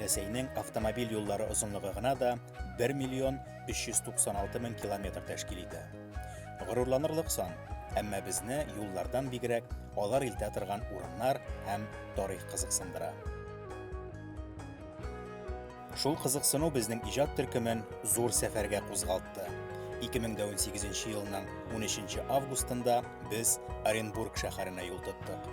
Рәсәйнең автомобиль юллары озынлыгы гына да 1 миллион 396 мең километр тәшкил итә. Горурланырлык сан, әмма безне юллардан бигрәк алар илтә торган урыннар һәм тарих кызыксындыра. Шул кызыксыну безнең иҗат төркемен зур сәфәргә кузгалтты. 2018 елның 13 августында без Оренбург шәһәренә юл тоттык.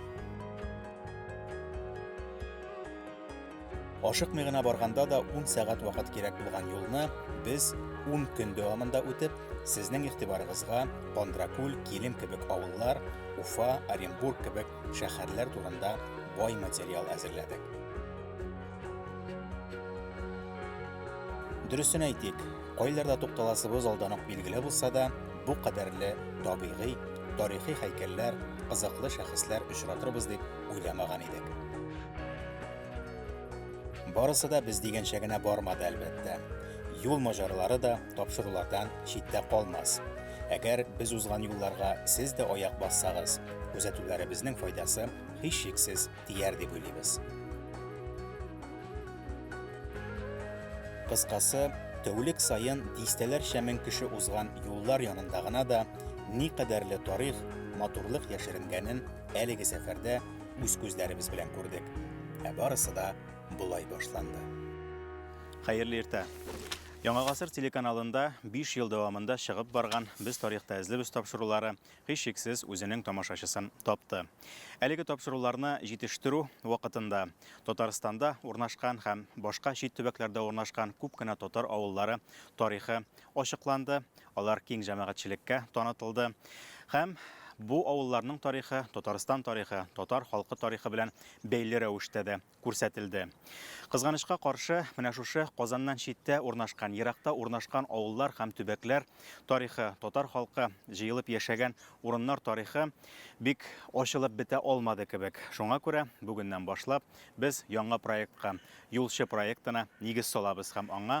Ашыкмый гына барганда да 10 сәгать вакыт кирәк булган юлны без 10 көн дәвамында үтеп, сезнең игътибарыгызга Кондракүл, Килем кебек авыллар, Уфа, Оренбург кебек шәһәрләр турында бай материал әзерләдек. Дөресен әйтик, кайларда тукталасыбыз алдан ук билгеле булса да, бу кадәрле табигый, тарихи һәйкәлләр, кызыклы шәхесләр очратырбыз дип уйламаган идек. Барысы да без дигәнчә генә бармады, әлбәттә. Юл мажарлары да тапшырулардан читтә калмас. Әгәр без узган юлларга сез дә аяк бассагыз, күзәтүләребезнең файдасы һичшиксез тияр дип уйлыйбыз. Кыскасы, тәүлек саен дистәләрчә мең кеше узган юллар янында гына да никадәрле тарих, матурлык яшеренгәнен Әлеге сәфәрдә үз күзләребез белән күрдек. Ә барысы да болай башланды. Хәерле иртә. Яңа гасыр телеканалында 5 ел дәвамында чыгып барган Без тарихта эзлебез тапшырулары һичшиксез үзенең тамашачысын тапты. Әлеге тапшыруларны җитештерү вакытында Татарстанда урнашкан һәм башка чит төбәкләрдә урнашкан күп кенә татар авыллары тарихы ачыкланды, Алар киң җәмәгатьчелеккә танытылды һәм бу авылларның тарихы Татарстан тарихы, татар халкы тарихы белән бәйле рәвештә дә күрсәтелде. Кызганычка каршы, менә шушы Казаннан читтә урнашкан, еракта урнашкан авыллар һәм төбәкләр тарихы, татар халкы җыелып яшәгән урыннар тарихы бик ачылып бетә алмады кебек. Шуңа күрә бүгеннән башлап без яңа проектка, Юлчы проектына нигез салабыз һәм аңа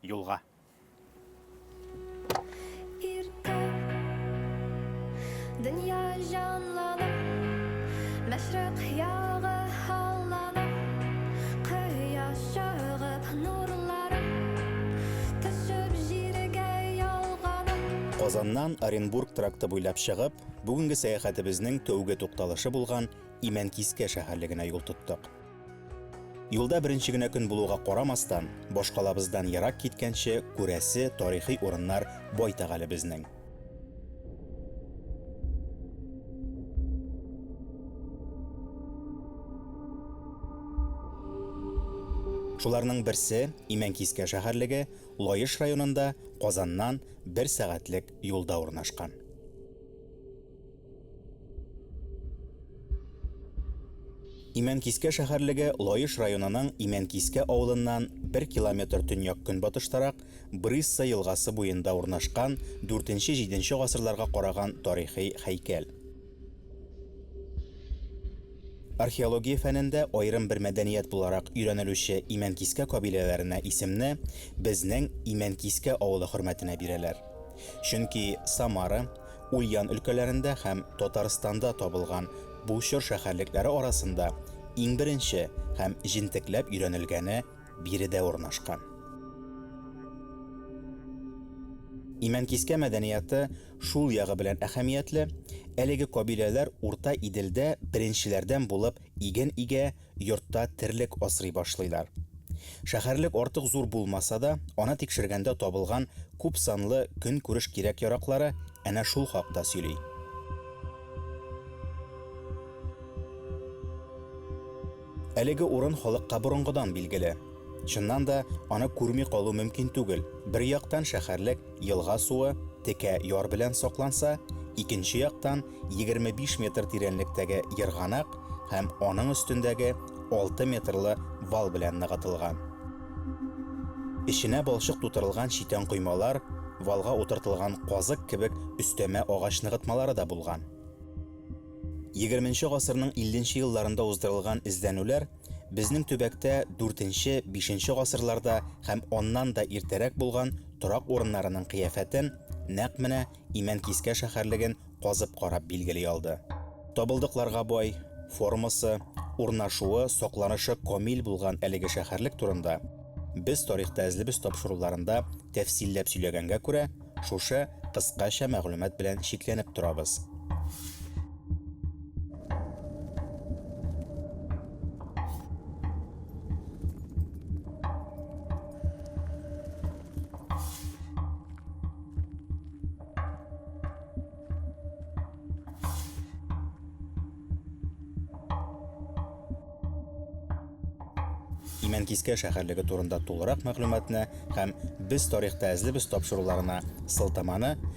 Юлга. Иртә дөнья җанлана, мәшрәк ягы һаллана, кояш чыгып нурлары төшеп җиргә ялгана. Казаннан Оренбург тракты буйлап чыгып, бүгенге сәяхәтебезнең тәүге тукталышы булган Имәнкискә шәһәрлегенә юл тоттык. Юлда беренче генә көн булуга карамастан, башкалабыздан ерак киткәнче күрәсе тарихи урыннар байтак әле безнең. Шуларның берсе Имәнкискә шәһәрлеге Лаеш районында Казаннан бер сәгатьлек юлда урнашкан. Имәнкискә шәһәрлеге Лаеш районының Имәнкискә авылыннан бер километр төньяк-көнбатыштарак Брысса елгасы буенда урнашкан дүртенче-җиденче гасырларга караган тарихи һәйкәл. Археология фәнендә аерым бер мәдәният буларак өйрәнелүче Имәнкискә кабиләләренә исемне безнең Имәнкискә авылы хөрмәтенә бирәләр. Чөнки Самара, Ульян өлкәләрендә һәм Татарстанда табылган бу чор шәһәрлекләре арасында иң беренче һәм җентекләп өйрәнелгәне биредә урнашкан. Имәнкискә мәдәнияты шул ягы белән әһәмиятле, әлеге кабиләләр Урта Иделдә беренчеләрдән булып иген игә, йортта терлек асрый башлыйлар. Шәһәрлек артык зур булмаса да, аны тикшергәндә табылган күпсанлы көнкүреш кирәк-яраклары әнә шул хакта сөйли. Әлеге урын халыкка борынгыдан билгеле. Чыннан да, аны күрми калу мөмкин түгел, бер яктан шәһәрлек елга суы, текә яр белән сакланса, икенче яктан, 25 метр тирәнлектәге ерганак һәм аның өстендәге 6 метрлы вал белән ныгытылган. Эченә балчык тутырылган читән коймалар, валга утыртылган казык кебек өстәмә агач ныгытмалары да булган. 20 гасырның 50 елларында уздырылган эзләнүләр безнең төбәктә 4-5 гасырларда һәм аннан да иртәрәк булган торак урыннарының кыяфәтен нәкъ менә Имәнкискә шәһәрлеген казып карап билгели алды. Табылдыкларга бай, формасы, урнашуы, сакланышы камил булган әлеге шәһәрлек турында без тарихта эзлебез тапшыруларында тәфсилләп сөйләгәнгә күрә, шушы кыскача мәгълүмат белән чикләнеп торабыз. Имәнкискә шәһәрлеге турында тулырак мәгълүматны һәм Без тарихта әзлебез тапшыруларына сылтаманы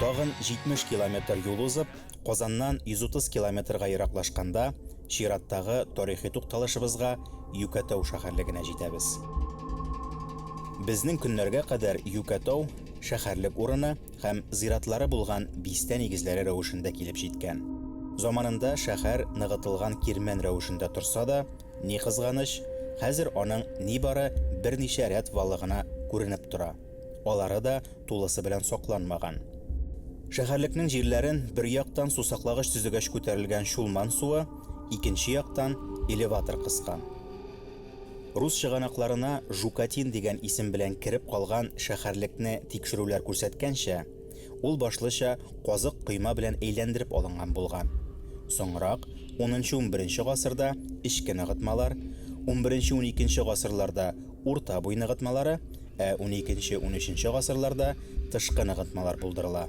Тагын 70 километр юл узып, Казаннан 130 километрга ераклашканда, чираттагы тарихи тукталышыбызга, Юкәтау шәһәрлегенә җитәбез. Безнең көннәргә кадәр Юкәтау шәһәрлек урыны һәм зиратлары булган бистә нигезләре рәвешендә килеп җиткән. Заманында шәһәр ныгытылган кирмән рәвешендә торса да, Ни кызганыч, хәзер аның нибары берничә рәт валы гына күренеп тора, алары да тулысы белән сакланмаган. Шәһәрлекнең җирләрен бер яктан сусаклагыч төзегәч күтәрелгән Чулман суы, икенче яктан элеватор кыскан. Рус чыганакларына Жукатин дигән исем белән кереп калган шәһәрлекне тикшерүләр күрсәткәнчә, Ул башлыча казык койма белән әйләндереп алынган булган. Соңрак, унынчы-унберенче гасырда эчке ныгытмалар, унберенче-уникенче гасырларда урта буй ныгытмалары, ә уникенче-унөченче гасырларда тышкы ныгытмалар булдырыла.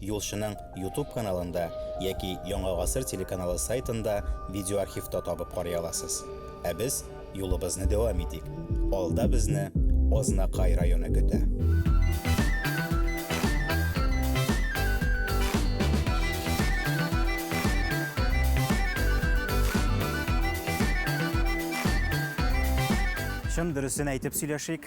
Юлчының Ютуб каналында яки Яңа гасыр телеканалы сайтында видеоархивта табып карый аласыз. Ә без юлыбызны дәвам итик. Алда безне Азнакай районы көтә. Чын дөресен әйтеп сөйләшик,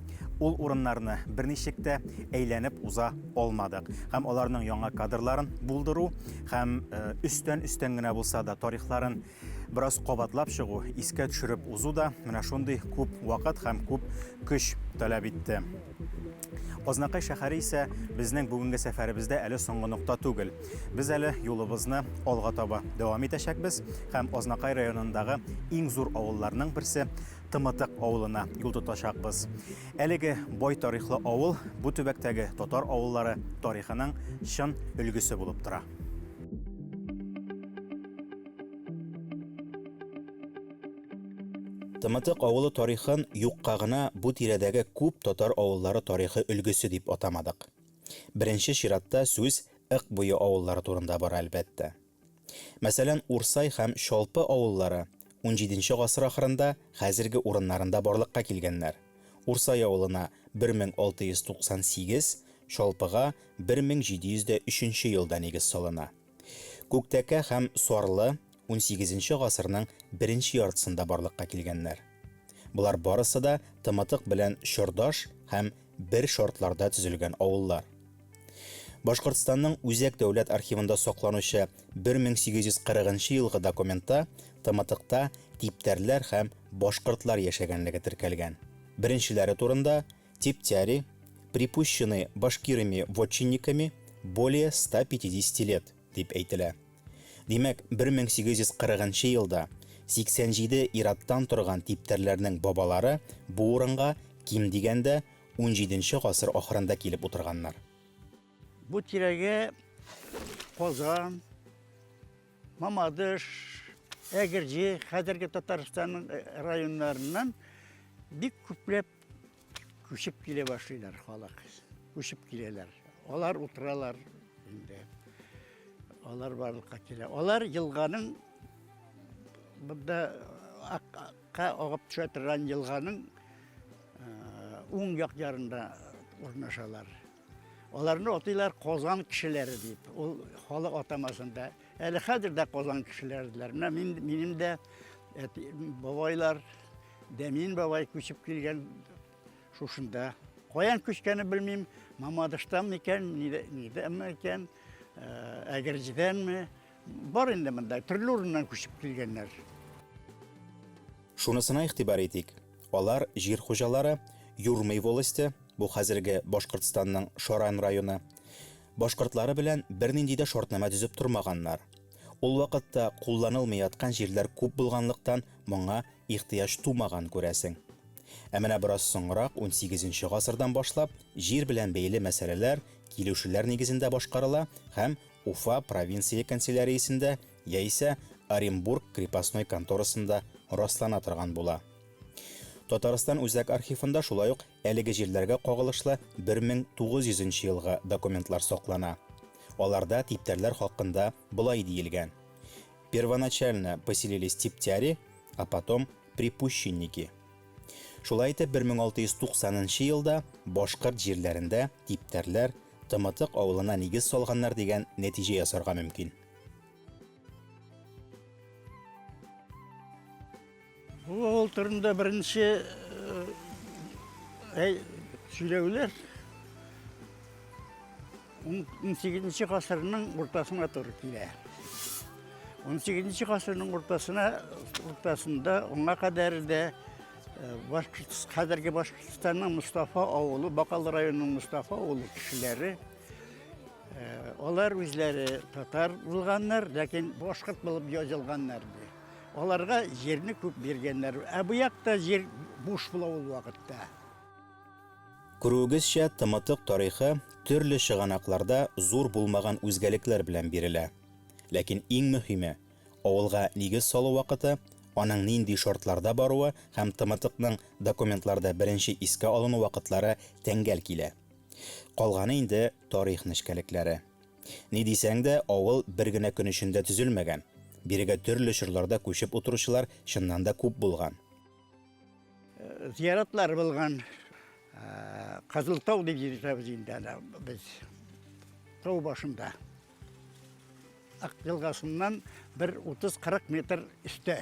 ул урыннарны берничек тә әйләнеп уза алмадык. Һәм аларның яңа кадрларын булдыру һәм өстән-өстән генә булса да тарихларын бераз кабатлап чыгу, искә төшереп узу да менә шундый күп вакыт һәм күп көч таләп итте. Азнакай шәһәре исә безнең бүгенге сәфәребездә әле соңгы нокта түгел. Без әле юлыбызны алга таба дәвам итәчәкбез һәм Азнакай районындагы иң зур авылларның берсе Тымытык авылына юл тотачакбыз. Әлеге бай тарихлы авыл бу төбәктәге татар авыллары тарихының чын өлгесе булып тора. Тымытык авылы тарихын юкка гына бу тирәдәге күп татар авыллары тарихы өлгесе дип атамадык. Беренче чиратта сүз Ык буе авыллары турында бара, әлбәттә. Мәсәлән, Урсай һәм Чалпы авыллары унҗиденче гасыр ахырында хәзерге урыннарында барлыкка килгәннәр. Урсай авылына 1698, Чалпыга 1703 елда нигез салына. Күктәкә һәм Сарлы унсигезенче гасырның беренче яртысында барлыкка килгәннәр. Болар барысы да Тымытык белән чордаш һәм бер шартларда төзелгән авыллар. Башкортстанның Үзәк дәүләт архивында сакланучы 1840 нчы елгы документта Тымытыкта типтәрләр һәм башкортлар яшәгәнлеге теркәлгән. Беренчеләре турында, Тептяри, припущены башкирыми-вотчинниками, более 150 лет. дип әйтелә. Димәк, 1840 нчы елда 87 ир-аттан торган типтәрләрнең бабалары бу урынга, ким дигәндә, XVII нче гасыр ахырында килеп утырганнар. Бу тирәгә Казан, Мамадыш, Әгерҗе, хәзерге Татарстанның районнарыннан бик күпләп Күчеп килә башлыйлар халык. Күчеп киләләр. Алар утыралар инде. Алар барлыкка килә. Алар елганың бында акка агып төшә торган елганың уң як ярында урнашалар. Аларны атыйлар Казан кешеләре дип. Ул халык атамасында. Әле хәзер дә Казан кешеләре диләр. Менә минем дә бабайлар Дәмин бабай күчеп килгән шушында. Каян күчкәне белмим, Мамадыштан микән, нидән микән, э, Әгерҗедәнме? Бар инде монда, төрле урыннан күчеп килгәннәр. Шунысына игътибар итик. Алар җир хуҗалары, Юрмый волосте, бу хәзерге Башкортстанның Шаран районы, башкортлары белән бернинди дә шартнамә төзеп тормаганнар. Ул вакытта кулланылмый яткан җирләр күп булганлыктан, моңа ихтыяҗ тумаган, күрәсең. Ә менә бераз соңрак, унсигезенче гасырдан башлап, җир белән бәйле мәсьәләләр килешүләр нигезендә башкарыла һәм Уфа провинция канцеляриясендә яисә Оренбург крепостной конторасында раслана торган була. Татарстан Үзәк архивында шулай ук Әлеге җирләргә кагылышлы 1900 нче елгы документлар саклана. Аларда типтәрләр хакында болай диелгән, Первоначально поселились типтяри, а потом припущенники. Шулай итеп 1690 нчы елда башкорт җирләрендә типтәрләр Тымытык авылына нигез салганнар дигән нәтиҗә ясарга мөмкин. Бу авыл турында беренче сөйләүләр 18 гасырның уртасына туры килә. 18 гасырның уртасына уртасында аңа кадәр дә хәзерге Башкортстанның Мустафа авылы, Бакал районының Мустафа авылы кешеләре Э, алар үзләре татар булганнар, ләкин башкорт булып язылганнар. Аларга җирне күп биргәннәр. Ә бу якта җир буш була ул вакытта. Күрүегезчә, тымытык тарихы төрле чыганакларда зур булмаган үзгәлекләр белән бирелә. Ләкин иң мөһиме, авылга нигез салу вакыты, аның нинди шартларда баруы һәм тымытыкның документларда беренче искә алыну вакытлары тәңгәл килә. Калганы инде тарих нечкәлекләре. Ни дисәң дә, авыл бер генә көн эчендә төзелмәгән. Бирегә төрле чорларда күчеп утыручылар чыннан да күп булган. Зыяратлар булган. Кызыл тау дип йөртәбез инде аны без. Тау башында. Ак елгасыннан бер 30-40 метр өстә.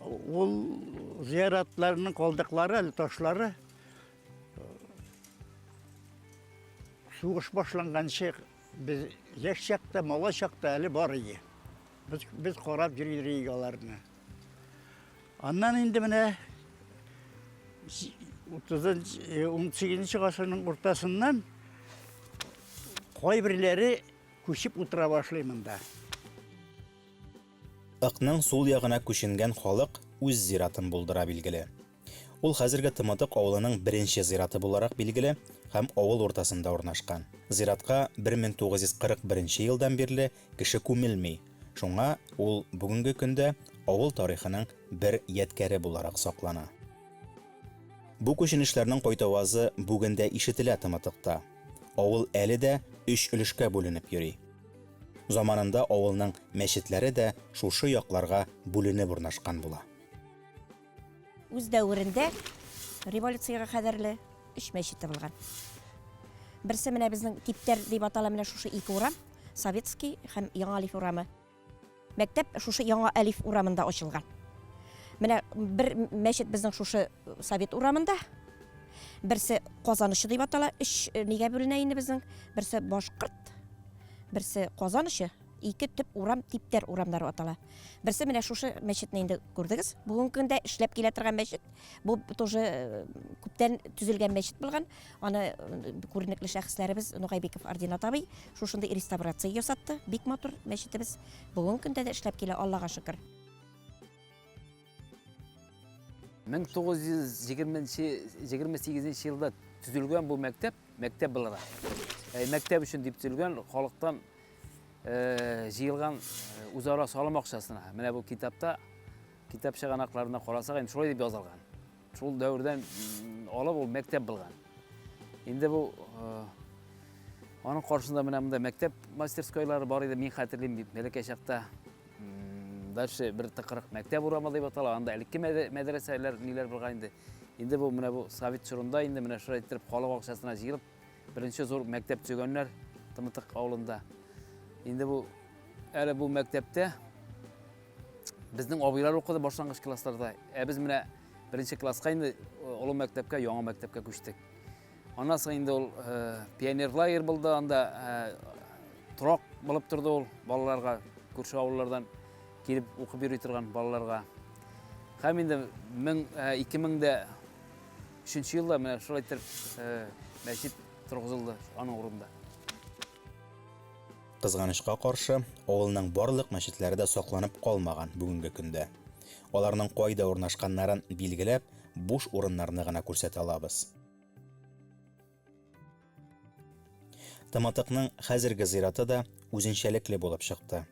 Ул зыяратларның калдыклары әле, ташлары. Сугыш башланганчы без яшь чакта, мала чакта әле бар иде. Без, без карап йөрдек аларны. Аннан инде менә 18 гасырның уртасыннан кайберләре күчеп утыра башлый монда. Ыкның сул ягына күченгән халык үз зиратын булдыра билгеле. Ул хәзерге Тымытык авылының беренче зираты буларак билгеле һәм авыл уртасында урнашкан. Зиратка 1941 нче елдан бирле кеше күмелми, шуңа ул бүгенге көндә авыл тарихының бер ядкяре буларак саклана. Бу күченешләрнең кайтавазы бүген дә ишетелә Тымытыкта. Авыл әле дә өч өлешкә бүленеп йөри. Заманында авылның мәчетләре дә шушы якларга бүленеп урнашкан була. Үз дәверендә революциягә кадәрле өч мәчет табылган. Берсе менә безнең типтәр дип атала менә шушы ике урам, Советский һәм Яңа Алиф урамы. Мәктәп шушы Яңа Алиф урамында ачылган. Менә бер мәчет безнең шушы Совет урамында, берсе Казанычы дип атала, өч нигә бүленә инде безнең, берсе Башкорт, берсе Казанычы, Ике төп урам типтәр урамнары атала. Берсе менә шушы мәчетне инде күрдегез. Бүгенге көндә эшләп килә торган мәчет. Бу тоже э, күптән төзелгән мәчет булган. Аны э, күренекле шәхесләребез Нугайбеков Ординат абый шушында реставрация ясатты. Бик матур мәчетебез. Бүгенге көндә дә эшләп килә, Аллага шөкер. 1928 елда төзелгән бу мәктәп, мәктәп буларак. Ә мәктәп өчен дип төзелгән халыктан җыелган үзара салым акчасына. Менә бу китапта, китап чыганакларына карасак, инде шулай дип язылган. Шул дәвердән алып ул мәктәп булган. Инде бу аның каршында менә монда мәктәп мастерскойлары бар иде, мин хәтерлим бит, бәләкәй чакта. Дальше бер тыкырык мәктәп урамы дип атала, анда элекке мәдрәсәләр ниләр булган инде. Инде бу менә бу совет чорында инде менә шулай иттереп халык акчасына җыелып, беренче зур мәктәп төзегәннәр Тымытык авылында. Инде бу әле бу мәктәптә Безнең абыйлар укыды башлангыч классларда. Ә без менә беренче класска инде олы мәктәпкә, яңа мәктәпкә күчтек. Аннан соң инде ул пионер лагерь булды, анда торак булып торды ул балаларга, күрше авыллардан килеп укып йөри торган балаларга. Һәм инде 2003 елда менә шулай итеп мәчет торгызылды аның урынында. Кызганычка каршы, авылның барлык мәчетләре дә сакланып калмаган бүгенге көндә. Аларның кайда урнашканнарын билгеләп, буш урыннарны гына күрсәтә алабыз. Тымытыкның хәзерге зираты да үзенчәлекле булып чыкты.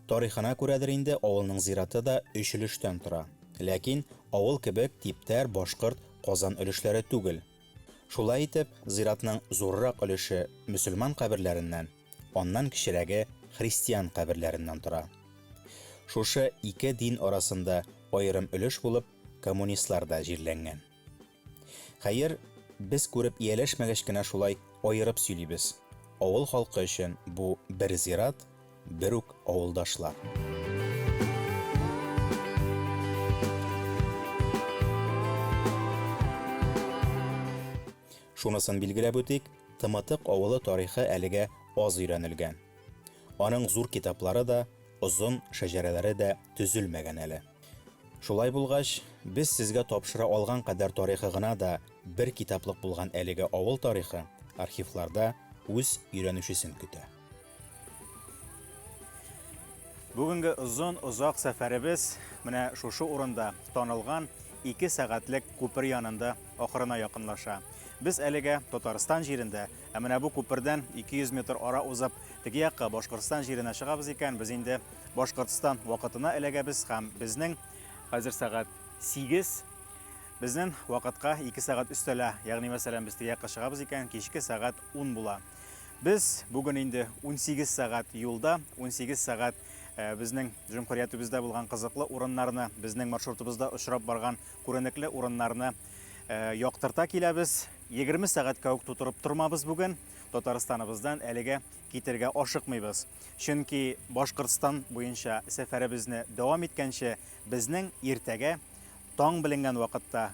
Тарихына күрәдер инде, авылның зираты да өч өлештән тора. Ләкин авыл кебек типтәр башкорт, казан өлешләре түгел. Шулай итеп, зиратның зуррак өлеше мөселман каберләреннән, аннан кечерәге христиан каберләреннән тора. Шушы ике дин арасында аерым өлеш булып коммунистлар да җирләнгән. Хәер, без күреп ияләшмәгәч кенә шулай аерып сөйлибез, авыл халкы өчен бу бер зират, Бер үк авылдашлар. Шунысын билгеләп үтик, Тымытык авылы тарихы әлегә аз өйрәнелгән. Аның зур китаплары да, озын шәҗәрәләре дә төзелмәгән әле. Шулай булгач, без сезгә тапшыра алган кадәр тарихы гына да бер китаплык булган әлеге авыл тарихы архивларда үз өйрәнүчесен көтә. Бүгенге озын озак сәфәребез менә шушы урында танылган 2 сәгатьлек күпер янында ахырына якынлаша. Без әлегә Татарстан җирендә, ә менә бу күпердән 200 метр ара узып, теге якка Башкортстан җиренә чыгабыз икән, без инде Башкортстан вакытына эләгәбез һәм безнең хәзер сәгать 8 безнең вакытка 2 сәгать өстәлә. Ягъни мәсәлән без теге якка чыгабыз икән, кичке сәгать 10 була. Без бүген инде 18 сәгать юлда, 18 сәгать э, безнең җөмһүриятебездә булган кызыклы урыннарны, безнең маршрутыбызда очрап барган күренекле урыннарны э, яктырта киләбез. 20 сәгатькә үк тутырып тормабыз бүген. Татарстаныбыздан әлегә китергә ашыкмыйбыз. Чөнки Башкортстан буенча сәфәребезне дәвам иткәнче, безнең иртәгә таң беленгән вакытта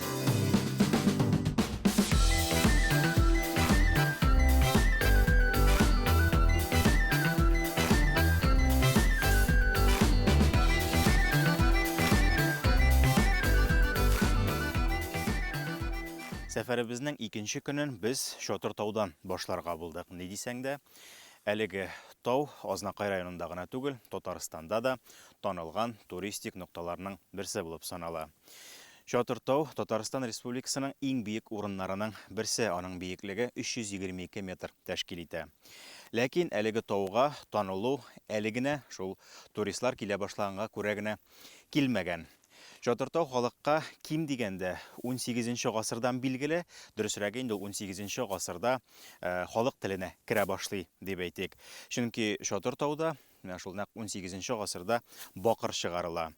Сәфәребезнең икенче көнен без Чотыр таудан башларга булдык. Ни дисәң дә, әлеге тау Азнакай районында гына түгел, Татарстанда да танылган туристик нокталарның берсе булып санала. Чатыр тау, Татарстан Республикасының иң биек урыннарының берсе, аның биеклеге 322 метр тәшкил итә. Ләкин әлеге тауга танылу әле генә, шул туристлар килә башлаганга күрә генә килмәгән. Чатыр тау халыкка ким дигәндә 18 нче гасырдан билгеле, дөресрәге инде ул 18 нче гасырда э, халык теленә керә башлый, дип әйтик. Чөнки Чатыр тауда, менә шул нәкъ 18 нче гасырда бакыр чыгарыла.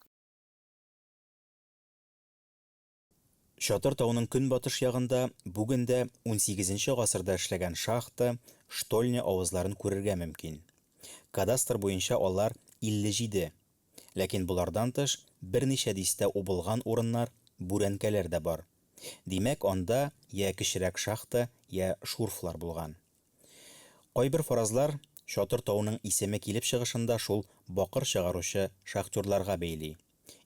Чатыр тауның көнбатыш ягында бүген дә унсигезенче гасырда эшләгән шахта, штольня авызларын күрергә мөмкин. Кадастр буенча алар 57, ләкин болардан тыш берничә дистә убылган урыннар, бүрәнкәләр дә бар. Димәк, анда йә кечерәк шахта, йә шурфлар булган. Кайбер фаразлар Чатыр тауның исеме килеп чыгышын да шул бакыр чыгаручы шахтерларга бәйли.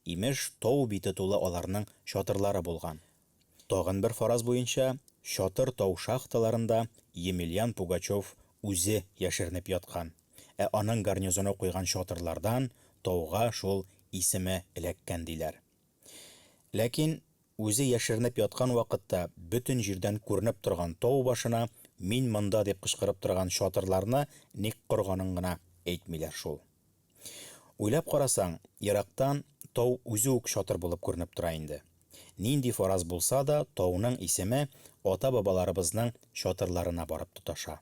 Имеш, тау бите тулы аларның чатырлары булган. Тагын бер фараз буенча, Чатыр тау шахталарында Емельян Пугачев үзе яшеренеп яткан, ә аның гарнизоны куйган чатырлардан тауга шул исеме эләккән, диләр. Ләкин үзе яшеренеп яткан вакытта бөтен җирдән күренеп торган тау башына Мин монда дип кычкырып торган чатырларны ник корганын гына әйтмиләр шул. Уйлап карасаң, ерактан тау үзе үк чатыр булып күренеп тора инде. Нинди фараз булса да, тауның исеме ата-бабаларыбызның чатырларына барып тоташа.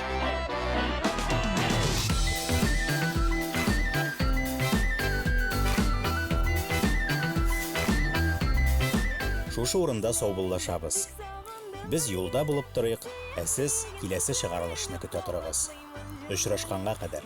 Шушы урында саубуллашабыз. Без юлда булып торыйк, ә сез киләсе чыгарылышны көтә торыгыз. Очрашканга кадәр!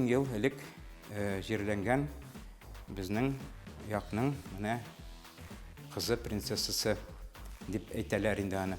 мең ел элек э, җирләнгән безнең якның менә кызы принцессасы дип әйтәләр инде аны